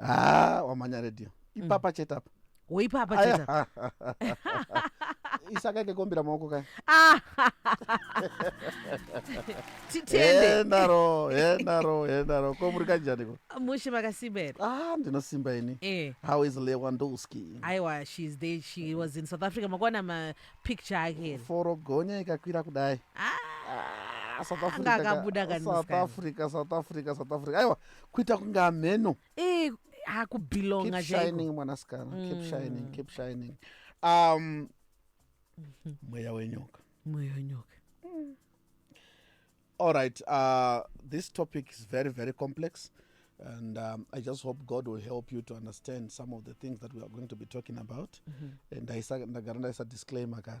haa wamhanya radio ipapa mm. chete apa woipapa chete isaka ikekombira maoko kaya ah. titendeendaro endaro endaro ko muri kanjaniko mushe makasimba here ah ndinosimba ini eh. how is lewandowski aiwa she is there she was in south africa makuona mapicture ake here forogonya ikakwira kudai ah. Ah, south africa south africa south africa south africa aiwa kuita kunge hamheno Eh, ah, kubelonga keep chaiko. shining mwanasikana keep Mm. shining keep shining um mweya wenyoka Mweya wenyoka. all right uh this topic is very very complex and um, i just hope god will help you to understand some of the things that we are going to be talking about Mhm. and ndaisa- ndagara ndaisa disclaimer kare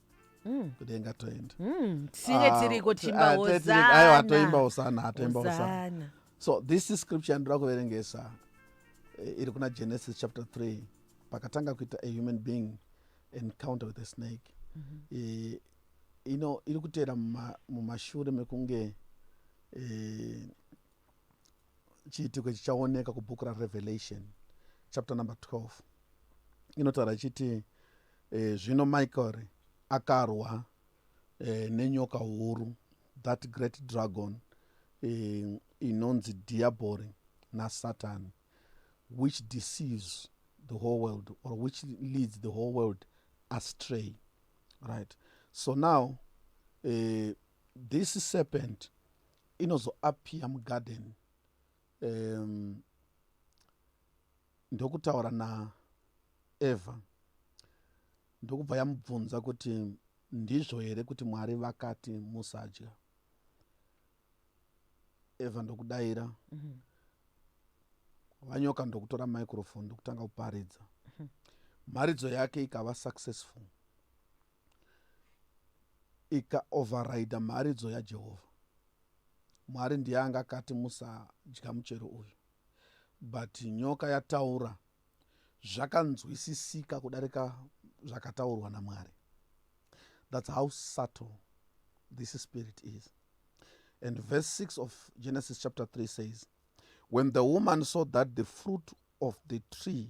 Mm. kudenga toenda Mm, tinge Ah, tiriko ti- timba ah, tiri- tiri- aiwa, atoimba hosana hosana atoimba hosana Hosana. so this is scripture ndinoda kuverengesa eh, iri kuna genesis chapter 3 pakatanga kuita a human being encounter with a snake Eh, ino iri kuteera muma- mumashure mekunge eh, chiitiko ichi chaoneka kubhuku rarevelation chapter number 12 inotaura ichiti e, zvino michael akarwa e, nenyoka huru that great dragon e, inonzi diabori nasatan which deceives the whole world or which leads the whole world astray right so now uh, this serpent inozoappear mugarden um, ndokutaura naeva ndokubva yamubvunza kuti ndizvo here kuti mwari vakati musadya eva ndokudaira mm -hmm vanyoka ndokutora microphone ndokutanga kuparidza mharidzo yake ikava successful ikaovharaidha mharidzo yaJehovha. Mwari ndiye anga akati musadya muchero uyu, but nyoka yataura zvakanzwisisika kudarika zvakataurwa naMwari. That's how subtle this spirit is. And verse 6 of Genesis chapter 3 says, When the woman saw that the fruit of the tree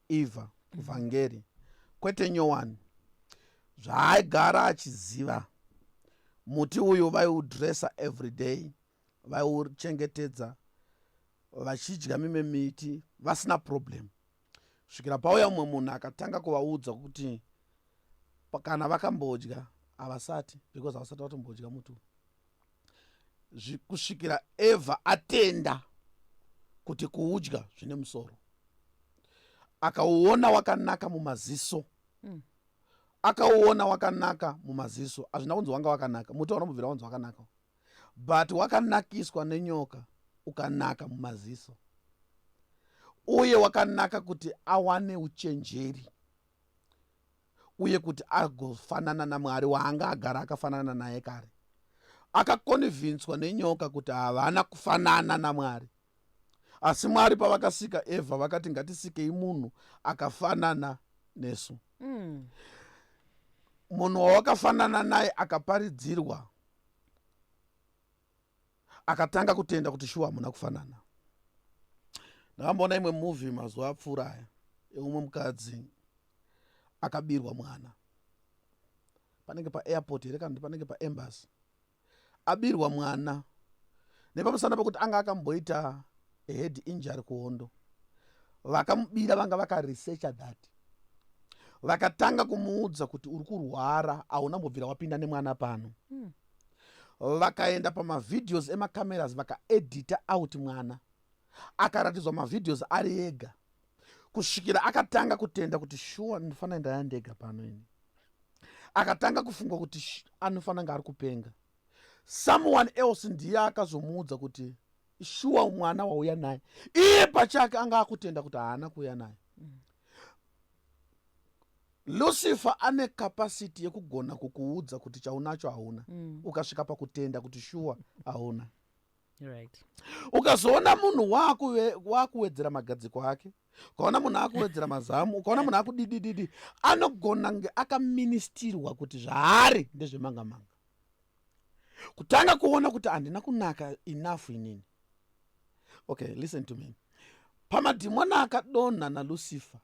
Eva mm. vhangeri kwete nyowani zvaaigara achiziva muti uyu vaiudressa everyday vaiuchengetedza vachidya mimwe miti vasina problem svikira pauya umwe munhu akatanga kuvaudza kuti kana vakambodya havasati because havasati vatombodya muti uyu kusvikira evha atenda kuti kuudya zvine musoro akauona wakanaka mumaziso mm. akauona wakanaka mumaziso hazvina kunzi wanga wakanaka muti wanomubvira wanzi wakanaka but wakanakiswa nenyoka ukanaka mumaziso uye wakanaka kuti awane uchenjeri uye kuti agofanana naMwari waanga agara akafanana naye kare. Akakonivhinswa nenyoka kuti havana kufanana naMwari. Asi Mwari pavakasika Evha vakati ngatisikei munhu akafanana nesu. Mm. Munhu wawakafanana naye akaparidzirwa akatanga kutenda kuti shuwa hamuna kufanana ndakamboona imwe movie mazuva apfuura aya eumwe mukadzi akabirwa mwana panenge paairport here kana kuti panenge paembasy abirwa mwana nepamusana pekuti anga akamboita head injury kuhondo vakamubira vanga vakaresearcha that vakatanga kumuudza kuti uri kurwara hauna mbobvira wapinda nemwana pano mm. vakaenda pamavideos emacameras vakaedita out mwana akaratidzwa mavideos ari ega kusvikira akatanga kutenda kuti shuwa ndinofanira ndaya ndega pano ini akatanga kufunga kuti anofanira nga ari kupenga someone else ndiye akazomuudza kuti shuwa mwana wauya naye iye pachake anga akutenda kuti haana kuuya naye lucifer ane capacity yekugona kukuudza kuti chaunacho hauna mm. ukasvika pakutenda kuti shuwa hauna right. ukazoona munhu waakuwedzera magadziko ake ukaona munhu akuwedzera mazamu ukaona munhu akudidididi anogona nge akaministirwa kuti zvaari ndezvemangamanga kutanga kuona kuti handina kunaka enough inini okay listen to me pamadhimona akadonha nalucifer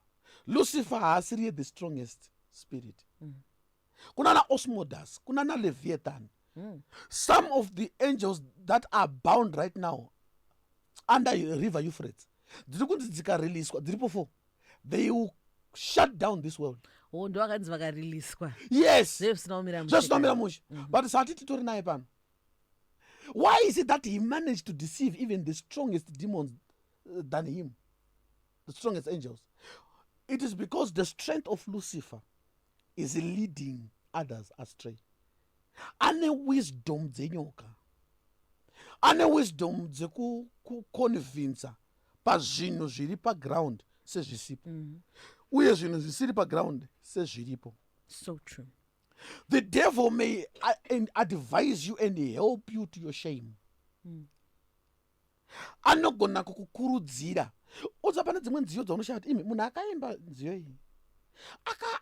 lucifer haasiriye the strongest spirit mm. kuna naosmodas kuna naleviathan mm. some of the angels that are bound right now under river euphrates dziri kunzi dzikareleaswa dziripo four they will shut down this world oh, ndo vakanzi vakariliswa yes zvezvisina kumira mushe mhm. but sati titori naye pano why is it that he managed to deceive even the strongest demons uh, than him the strongest angels it is because the strength of lucifer is leading others astray ane wisdom dzenyoka ane wisdom dzekuconvincer pazvinhu zviri paground sezvisipo mm -hmm. uye zvinhu zvisiri paground sezviripo so true the devil may uh, advise you and help you to your shame mm. anogona kukukurudzira oza pane dzimwe nziyo dzaunoshaya kuti imi munhu akaimba nziyo iyi aka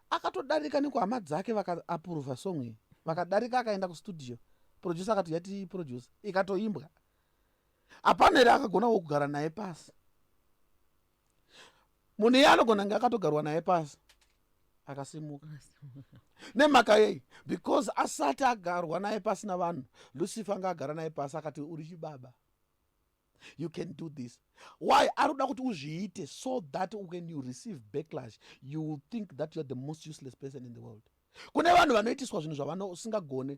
akatodarika nekuhama dzake vakaapuruvha song iyi vakadarika akaenda kustudio producer akati yati producer ikatoimbwa hapana here akagona wo kugara naye pasi munhu iye anogona kunge akatogarwa naye pasi akasimuka nemhaka yei because asati agarwa naye pasi navanhu lucifer anga agara naye pasi akati uri chibaba you can do this why ari kuda kuti uzviite so that when you receive backlash you will think that youare the most useless person in the world kune vanhu vanoitiswa zvinhu zvavanousingagone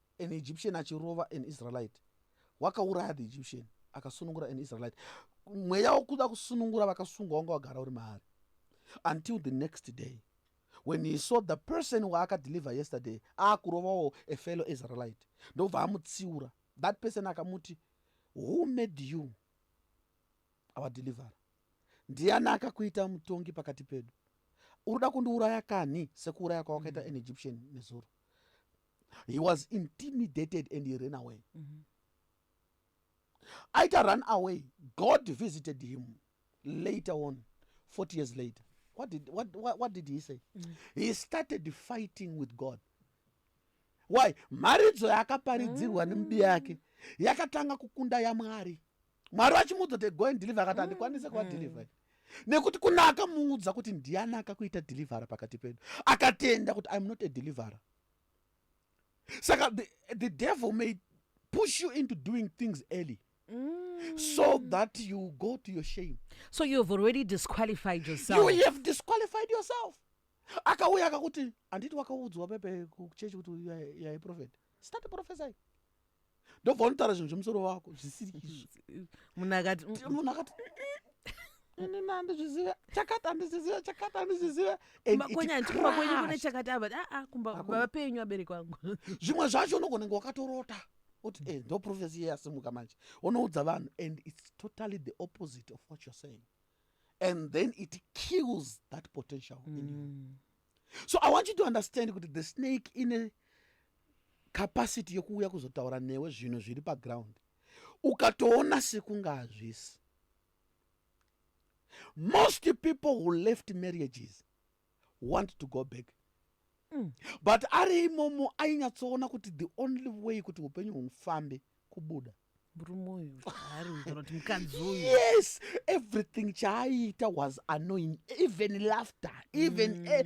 an egyptian achirova an israelite wakauraya the egyptian akasunungura an israelite mweya wokuda kusunungura vakasungwa wanga wagara uri maari until the next day when he saw the person waakadeliver yesterday aakurovawo a fellow israelite ndobva amutsiura that person akamuti who made you our deliverer ndiani akakuita mutongi pakati pedu urikuda kundiuraya kanhi sekuuraya kwawakaita an egyptian nezuro he was intimidated and he ran away mm -hmm. aita run away god visited him later on 40 years later what did, what, what, what did he say mm -hmm. he started fighting with god why mharidzo yaakaparidzirwa mm -hmm. nembi yake yakatanga kukunda yamwari mwari vachimuudza kuti go and deliver akati handikwanise kuva deliver mm. nekuti kuna akamuudza kuti ndiani akakuita deliverer pakati pedu akatenda kuti iam not a deliverer saka the, the devil may push you into doing things early Mm. so that you go to your shame so you have already disqualified yourself you have disqualified yourself akauya akakuti handiti wakaudzwa pepe kuchechi kuti yaiprofet start profesai ndobva unotaura zvinhu zvemusoro wako zvisiri izvo munhu akati mm, mm. munhu akati ini nandizviziva chakati andizviziva chakati andizviziva makonyandikumba kwenyu kune chakati ava aa ah, ah, kumba baba penyu abereki wangu zvimwe zvacho unogonenge wakatorota oti e eh, ndo profesi iye yasimuka manje unoudza vanhu and its totally the opposite of what you're saying and then it kills that potential mm. in you mm. so i want you to understand kuti the snake ine capacity yokuuya kuzotaura newe zvinhu zviri paground ukatoona sekunga hazvisi most people who left marriages want to go back mm. but ari imomo ainyatsoona kuti the only way kuti upenyu hufambe kubuda murume uyu haari uyu kana kuti mukadzi uyu yes everything chaaiita was annoying even laughter even mm. a,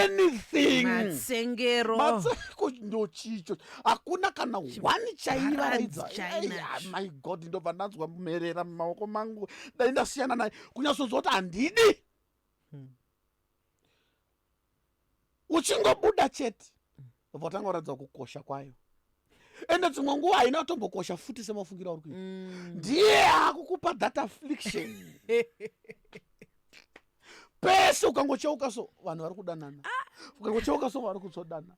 anything matsengero matsengero ndochicho hakuna kana one chaivaraidza yeah, my god ndobva ndanzwa mherera mumaoko mangu dai ndasiyana naye kunyasonzwa kuti handidi hmm. uchingobuda chete vobva utanga kuratidza kukosha kwayo ende dzimwe nguva haina kutombokosha futi semafungira uri kuita mm. ndiye akukupa that affliction pese ukangocheuka so vanhu vari kudanana ah. ukangocheuka so vari kutsodana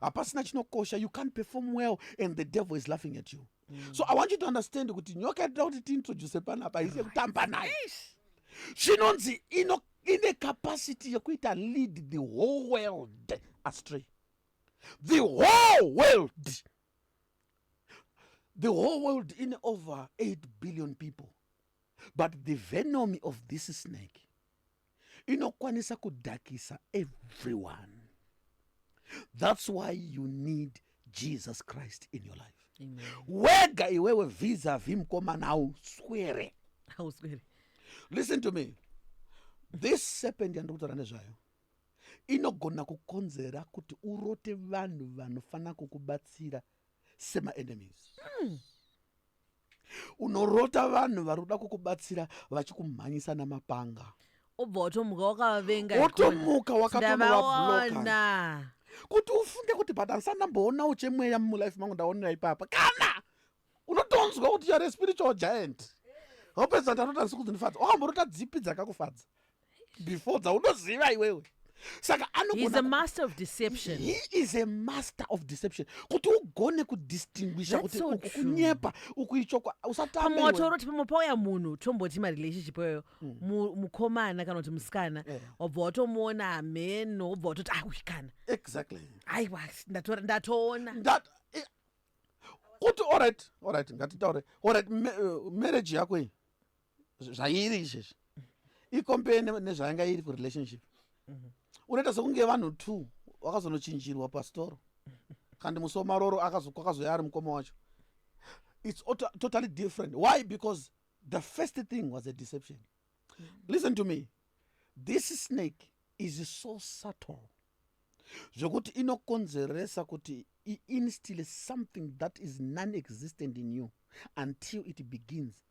hapasina chinokosha you can't perform well and the devil is laughing at you mm. so i want you to understand kuti nyoka yatida kuti tiintroduce panapa ise kutamba nayo zvinonzi ino ine capacity yekuita lead the whole world astray the whole world the whole world in over 8 billion people but the venomy of this snake inokwanisa kudhakisa everyone thats why you need jesus christ in your life Amen. wega iwewe visa vimkomana hauswere hauswere listen to me this serpent yandiri kutaura nezvayo inogona kukonzera kuti urote vanhu vanofanira kukubatsira semaenemies mm. unorota vanhu vari kuda kukubatsira vachikumhanyisa namapanga obva watomuka wakavavenga wotomuka wakatonovabloka kuti ufunge kuti but andisandamboonawo chemweya mulife mangu ndaonera ipapa kana unotonzwa kuti youare spiritual giant hopedza ndarota ndisi kudzinifadza wakamborota dzipi dzakakufadza before dzaunoziva iwewe saka anois a master of deception he is a master of deception kuti ugone kudistinguisha kuti so uku kunyepa uku ichokwa usatamotaura kuti pamwe pauya munhu tomboti marelationship iyoyo mm. mukomana kana kuti musikana eh. wabva yeah. watomuona hameno wobva watoti awikana ah, exactly aiwa ndatoona That, eh, kuti orit orit ngatitaure orit eh, marriage yako iyi zvairi izvezvi ikompee nezvayanga iri kurelationship mhm. unoita sekunge vanhu two wakazonochinjirwa pastoro kandi musi wamaroro kwakazouya ari mukoma wacho its totally different why because the first thing was a deception mhm. listen to me this snake is so subtle zvekuti inokonzeresa kuti iinstill something that is non existent in you until it begins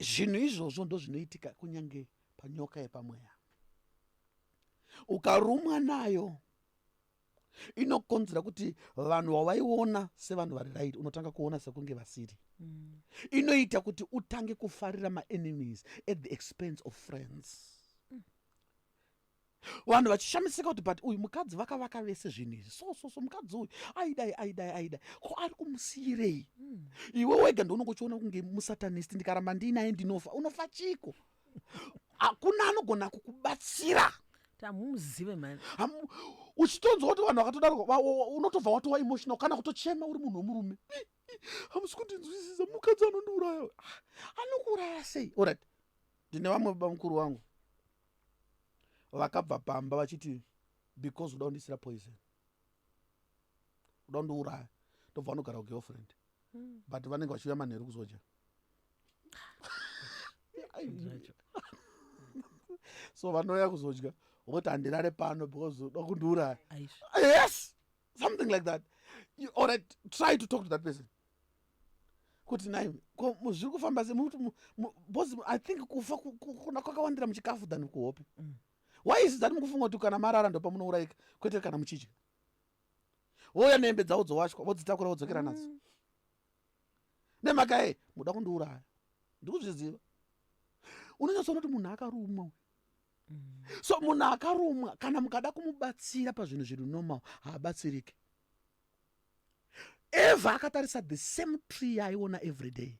zvinhu izvozvo ndozvinoitika kunyange panyoka yepamweya ukarumwa nayo inokonzera kuti vanhu vavaiona sevanhu vari right unotanga kuona sekunge vasiri mm. inoita kuti utange kufarira maenemies at the expense of friends mm. vanhu vachishamisika kuti but uyu mukadzi vakavaka vese zvinhu izvi so so so mukadzi uyu aidai aidai aidai ko ari kumusiyirei mm. iwe wega ndounenge uchiona kunge musatanist ndikaramba ndiinaye ndinofa unofa chiko hakuna anogona kukubatsira tamumuzive mani uchitonzwa kuti vanhu vakatodaro unotobva watowa emotional kana kutochema uri munhu wemurume hamusi kundinzwisisa mukadzi anondiuraya anokuuraya sei orit ndine vamwe baba mukuru wangu vakabva pamba vachiti because uda kundisira poison uda kundiuraya ndobva vanogara kugirlfriend hmm. but vanenge vachiuya manheru kuzodya so vanouya kuzodya voti handirare pano because uda kundiuraya yes something like that you, or I try to talk to that person kuti nai ko zviri kufamba se bos i think kufa kuna kwakawandira muchikafu than kuhope mm. why is that mukufunga kuti kana marara ndopamunourayika kwete kana muchidya vouya nehembe dzavo dzowachwa vodzitakura vodzokera mm. nadzo nemakae muda kundiuraya ndikuzviziva unonyatsoona kuti munhu akarumwa uyu so munhu akarumwa kana mukada kumubatsira pazvinhu zviri normal haabatsirike eva akatarisa the same tree yaaiona every day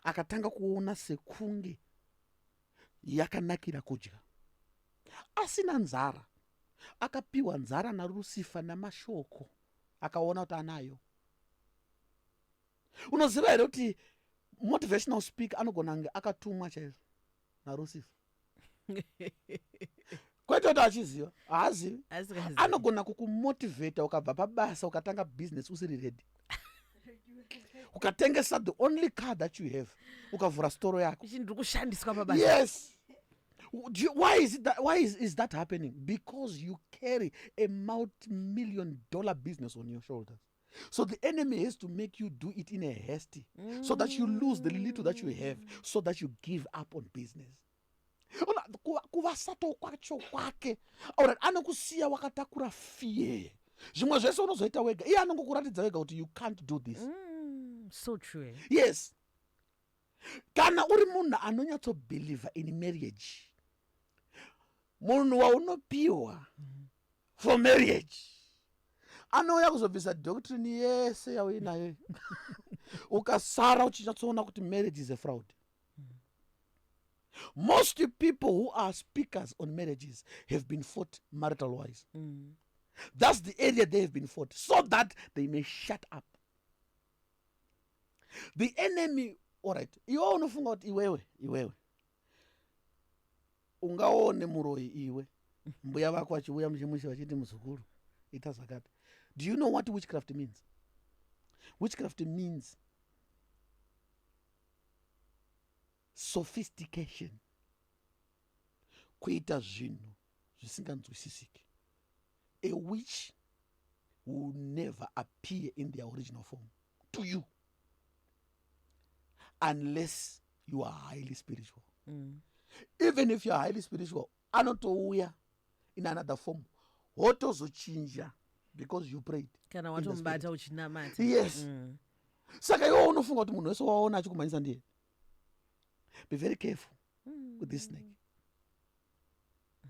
akatanga kuona sekunge yakanakira kudya asina nzara akapiwa nzara narusifa namashoko akaona kuti anayo unoziva here kuti motivational speak anogona kunge akatumwa chaizvo narusifa kwete kuti achiziva haazivi anogona kukumotivheta ukabva pabasa ukatanga business usiri redi ukatengesa the only car that you have ukavhura storo yako ndiri kushandiswa pabasa yes You, why is it that, why is, is that happening because you carry a multi million dollar business on your shoulders so the enemy has to make you do it in a hasty mm. so that you lose the little that you have so that you give up on business ona kuvasato kwacho kwake orat anokusiya wakatakura fear zvimwe zvese unozoita wega iye anongokuratidza wega kuti you can't do this mm, so true yes kana uri munhu anonyatsobhilivha in marriage munhu waunopiwa mm. for marriage anouya kuzobvisa doctrine yese yauinayo ukasara uchichatsoona kuti marriage is a fraud most people who are speakers on marriages have been fought marital wise mm. thats the area they have been fought so that they may shut up the enemy allright iwewe unofunga kuti iwewe iwewe ungaone muroyi iwe mbuya vako vachivuya muchimushe vachiti muzukuru ita zvakati do you know what witchcraft means witchcraft means sophistication kuita zvinhu zvisinganzwisisiki a witch will never appear in their original form to you unless you are highly spiritual mm. even if you are highly spiritual anotouya in another form wotozochinja because you prayed kana watomubata uchinamata yes mm. saka iwo unofunga kuti munhu wese waona achikumhanyisa ndiye be very careful mm. with this snake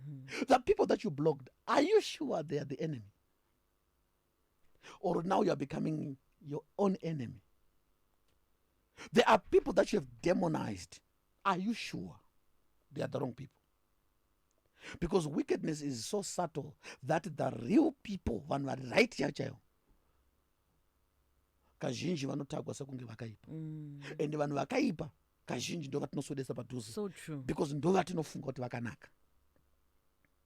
mm. the people that you blocked are you sure they are the enemy or now youare becoming your own enemy there are people that you have demonized are you sure they are the wrong people because wickedness is so subtle that the real people vanhu vari right ya chaivo kazhinji vanotagwa sekunge vakaipa mm. and vanhu vakaipa kazhinji ndo vatinoswedesa padhuze so because ndo vatinofunga kuti vakanaka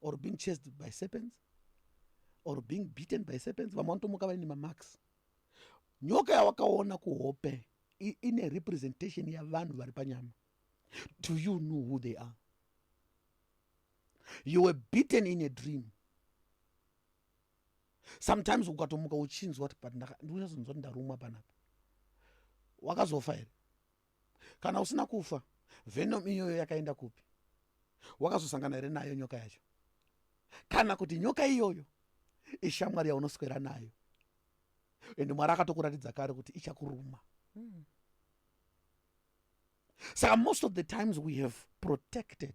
or being chased by serpents or being beaten by serpents vamwe vanotomuka vaine mamarks nyoka yawakaona kuhope ine representation yavanhu vari panyama do you know who they are you were beaten in a dream sometimes ukatomuka uchinzwa ti but ndichazonzwa ti ndarumwa panapa wakazofa here kana usina kufa venom iyoyo yakaenda kupi wakazosangana here nayo nyoka yacho kana kuti nyoka iyoyo ishamwari yaunoswera nayo ende mwari akatokuratidza kare kuti ichakuruma mm. saka most of the times we have protected